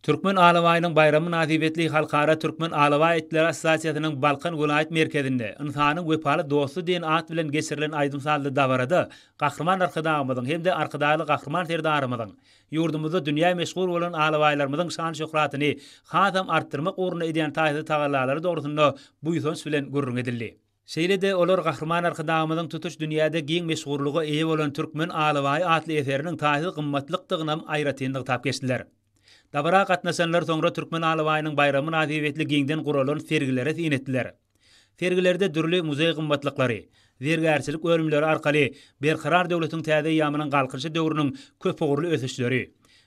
Türkmen alabaýynyň baýramy mynasybetli Halkara Türkmen alabaý itleri assosiasiýasynyň Balkan welaýat merkezinde Ynsanyň wepaly dosty diýen at bilen geçirilen aýdym-sazly dabarada Gahryman Arkadagymyzyň hem-de Arkadagly Gahryman Serdarymyzyň ýurdumyzda dünýä meşhur bolan alabaýlarymyzyň şan-şöhratyny hasam artdyrmak ugrunda edýän taýsyz tagallalary dogrusynda buýsanç bilen gürrüň edildi. Şeýle-de olar Gahryman Arkadagymyzyň tutuş dünýäde giň meşhurlyga eýe bolan Türkmen alabaýy atly eseriniň taýsyz gymmatlykdygynam aýratyn nygtap geçdiler. Dabara gatnaşanlar soňra Türkmen alabaýynyň baýramy mynasybetli giňden guralan sergilere syn etdiler. Sergilerde dürli muzeý gymmatlyklary, zergärçilik bölümleri arkaly Berkarar döwletiň täze eýýamynyň Galkynyşy döwrüniň köpugurly ösüşleri,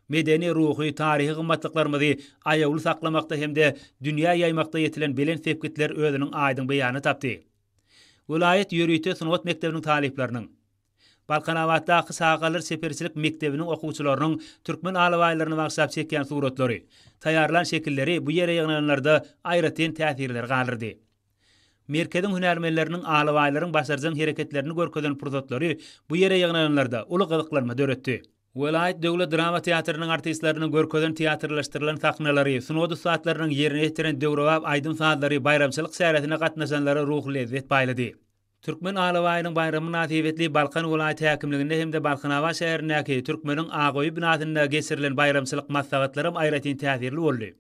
medeni-ruhy, taryhy gymmatlyklarymyzy aýawly saklamakda hem-de dünýä ýaýmakda ýetilen belent sepgitler özüniň aýdyň beýanyny tapdy. Welaýat ýörite sungat mekdebiniň talyplarynyň, Balkanabatdaky çagalar çeperçilik mekdebiniň okuwçylarynyň türkmen alabaýlaryny bagşlap çekýän suratlary, taýýarlan şekilleri bu ýere ýygnananlarda aýratyn täsirleri galdyrdy. Merkeziň hünärmenleriniň alabaýlaryň başarjaň hereketlerini görkezen pursatlary bu ýere ýygnananlarda uly gyzyklanma döretdi. Welaýat döwlet drama teatrynyň artistleriniň görkezen teatrlaşdyrylan sahnalary, sungat ussatlarynyň ýerine ýetiren döwrebap aýdym-sazlary baýramçylyk çäresine gatnaşanlara ruhy lezzet paýlady. Türkmen alabaýynyň baýramy mynasybetli Balkan welaýat häkimliginde hem-de Balkanabat şäherindäki Türkmeniň Agoýy binasynda geçirilen baýramçylyk maslahatlaram aýratyn täsirli boldy.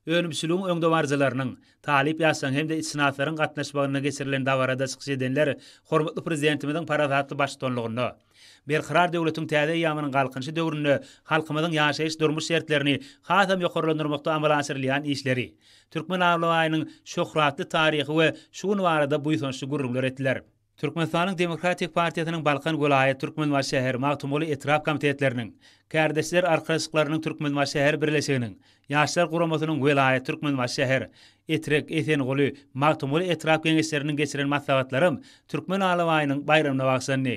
Önümçiligiň öňdebaryjylarynyň, talyp ýaşlaryň hem-de itşynaslaryň gatnaşmagynda geçirilen dabarada çykyş edenler hormatly Prezidentimiziň parasatly baştutanlygynda Berkarar döwletiň täze eýýamynyň Galkynyşy döwründe halkymyzyň ýaşaýyş-durmuş şertlerini hasam ýokarlandyrmakda amala aşyrylýan işleri, Türkmenabaýynyň şöhratly taryhy we şu güni barada buýsançly gürrüňler etdiler. Türkmenistanyň Demokratik partiýasynyň Balkan welaýat Türkmenbaşy şäher Magtymguly etrap komitetleriniň, Kärdeşler arkalaşyklarynyň Türkmenbaşy şäher birleşiginiň, Ýaşlar guramasynyň welaýat Türkmenbaşy şäher, Etrek, Esenguly, Magtymguly etrap Geňeşleriniň geçiren maslahatlaram Türkmen alabaýynyň baýramyna bagyşlandy.